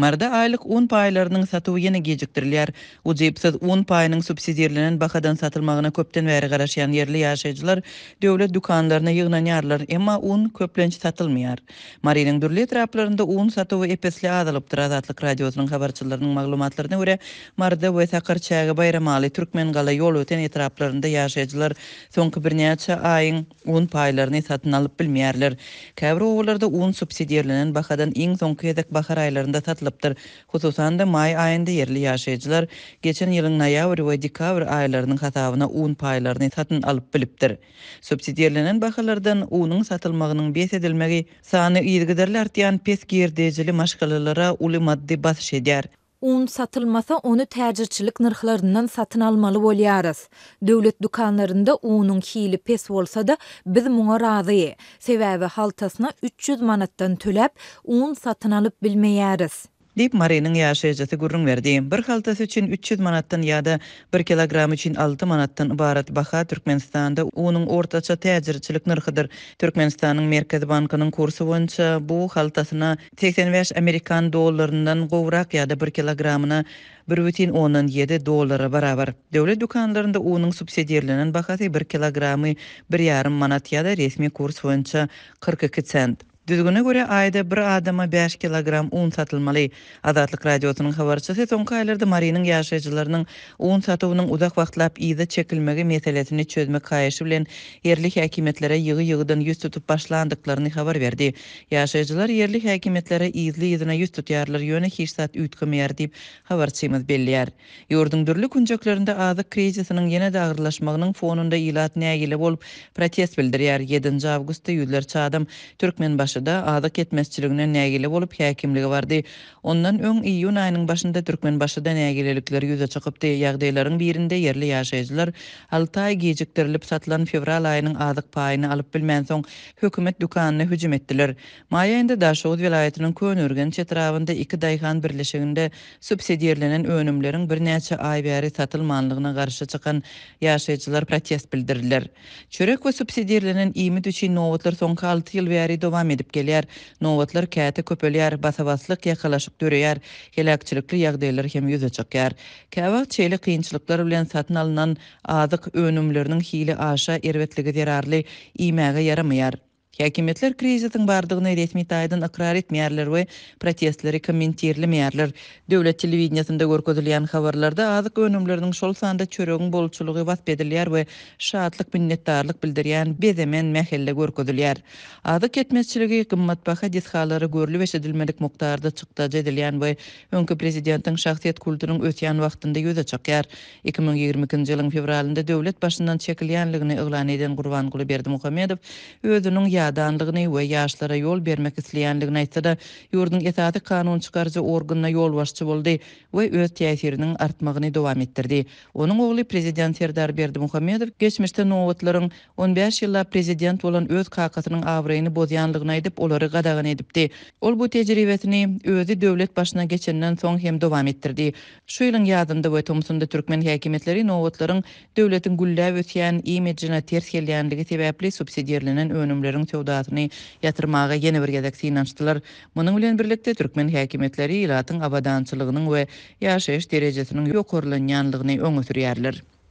Marda aýlyk un paýlarynyň satuwy ýene gijikdirilýär. Ujypsyz un paýynyň subsidirlenen bahadan satylmagyna köpden bäri garaşýan ýerli ýaşaýjylar döwlet dükanlaryna ýygnanýarlar, emma un, köplenç, satylmaýar. Marynyň dürli etraplarynda un satuwy ep-esli azalypdyr. Azatlyk Radiosynyň habarçylarynyň maglumatlaryna görä, Marda we Sakarçäge-Baýramaly, Türkmengala, Ýolöten etraplarynda ýaşaýjylar soňky birnäçe aýyň, un paýlaryny satyn alyp bilmeýärler. Käbir obalarda un subsidirlenen bahadan iň soňky gezek bahar aýlarynda satylypdyr. Hususan-da, maý aýynda ýerli ýaşaýjylar geçen ýylyň noýabr we dekabr aýlarynyň hasabyna un paýlaryny satyn alyp bilipdir. Subsidirlenen bahalardan unuň satylmagynyň bes edilmegi sany yzygiderli artýan pes girdejili maşgalalara uly maddy basyş edýär. Un satylmasa, ony täjirçilik nyrhlaryndan satyn almaly bolýarys. Döwlet dükanlarynda unuň hili pes bolsa-da, biz muňa razy. Sebäbi haltasyna üç ýüz manatdan töläp, un satyn alyp bilmeýäris. Diýip, Marynyň ýaşaýjysy gürrüň berdi. Bir haltasy üçin üç ýüz manatdan ýa-da bir kilogram üçin alty manatdan ybarat baha Türkmenistanda unuň ortaça täjirçilik nyrhydyr. Türkmenistanyň Merkezi bankynyň kursy boýunça bu haltasyna Segsen bäş amerikan dollaryndan gowrak ýa-da bir kilogramyna bir bütin ondan ýedi dollara barabar. Döwlet dükanlarynda unuň subsidirlenen bahasy bir kilogramy bir ýarym manat ýa-da resmi kurs boýunça kyrk iki sent. Düzgüne görä, aýda bir adama bäş kilogram un satylmaly. Azatlyk Radiosynyň habarçysy soňky aýlarda Marynyň ýaşaýjylarynyň un satuwynyň uzak wagtlap yza çekilmegi meselesini çözmek haýyşy bilen ýerli häkimiýetlere ýygy-ýygydan ýüz tutup başlandyklaryny habar berdi. Ýaşaýjylar ýerli häkimiýetlere yzly-yzyna ýüz tutýarlar, ýöne hiç zat üýtgemeýär diýip, habarçymyz belleýär. Ýurduň dürli künjeklerinde azyk krizisiniň ýene-de agyrlaşmagynyň fonunda ilat nägile bolup, protest bildirýär. Ýedinji awgustda ýüzlerçe adam Türkmenbaşyda azyk ýetmezçiliginden nägile bolup, häkimlige bardy. Ondan öň, iýun aýynyň başynda Türkmenbaşyda nägilelikler ýüze çykypdy. Ýagdaýlaryň birinde ýerli ýaşaýjylar alty aý gijikdirilip satylan fewral aýynyň azyk paýyny alyp bilmänsoň, hökümet dükanyna hüjüm etdiler. Maý aýynda Daşoguz welaýatynyň Köneürgenç etrabynda iki daýhan birleşiginde subsidirlenen önümleriň birnäçe aý bäri satylmanlygyna garşy çykan ýaşaýjylar protest bildirdiler. Çörek we subsidirlenen iýmit üçin nobatlar soňky alty ýyl bäri dowam edip gelýär. Nobatlar käte köpelýär, basa-baslyk, ýakalaşyk döreýär, heläkçilikli ýagdaýlar hem ýüze çykýar. Käwagt şeýle kynçylyklar bilen satyn alnan Azyk önümleriniň hili aşa erbetligi zerarly iýmäge ýaramaýar. Häkimiýetler krizisiň bardygyny resmi taýdan ykrar etmeýärler we protestleri kommentirlemeýärler. Döwlet telewideniýesinde görkezilýän habarlarda azyk önümleriniň, şol sanda çöregiň bolçulygy wasp edilýär we şatlyk, minnetdarlyk bildirýän bezemen mähelle görkezilýär. Azyk ýetmezçiligi, gymmatbaha desgalary görlüp-eşidilmedik mukdarda çykdajy edilýän we öňki prezidentiň şahsyýet kultunyň ösýän wagtynda ýüze çykýar. Iki müň ýigrimi ikinji ýylyň fewralynda döwlet başyndan çekilýänligini yglan eden Gurbanguly Berdimuhamedow özüniň ýadanlygyny we ýaşlara ýol bermek isleýänligini aýtsa-da, ýurduň esasy kanun çykaryjy organyna ýolbaşçy boldy we öz täsiriniň artmagyny dowam etdirdi. Onuň ogly prezident Serdar Berdimuhamedow geçmişde nobatlaryň On bäş ýyllap prezident bolan öz kakasynyň abraýyny bozýanlygyny aýdyp, olary gadagan edipdi. Ol bu tejribesini özi döwlet başyna geçenden soň hem dowam etdirdi. Şu ýylyň ýazynda we tomsunda türkmen häkimiýetleri nobatlaryň döwletiň gülläp ösýän imidjine ters gelýänligi sebäpli subsidirlenen önümleriň söwdasyny ýatyrmaga ýene bir gezek synanyşdylar. Munuň bilen birlikde türkmen häkimiýetleri ilatyň abadançylygynyň we ýaşaýyş derejesiniň ýokarlanýanlygyny öňe sürýärler.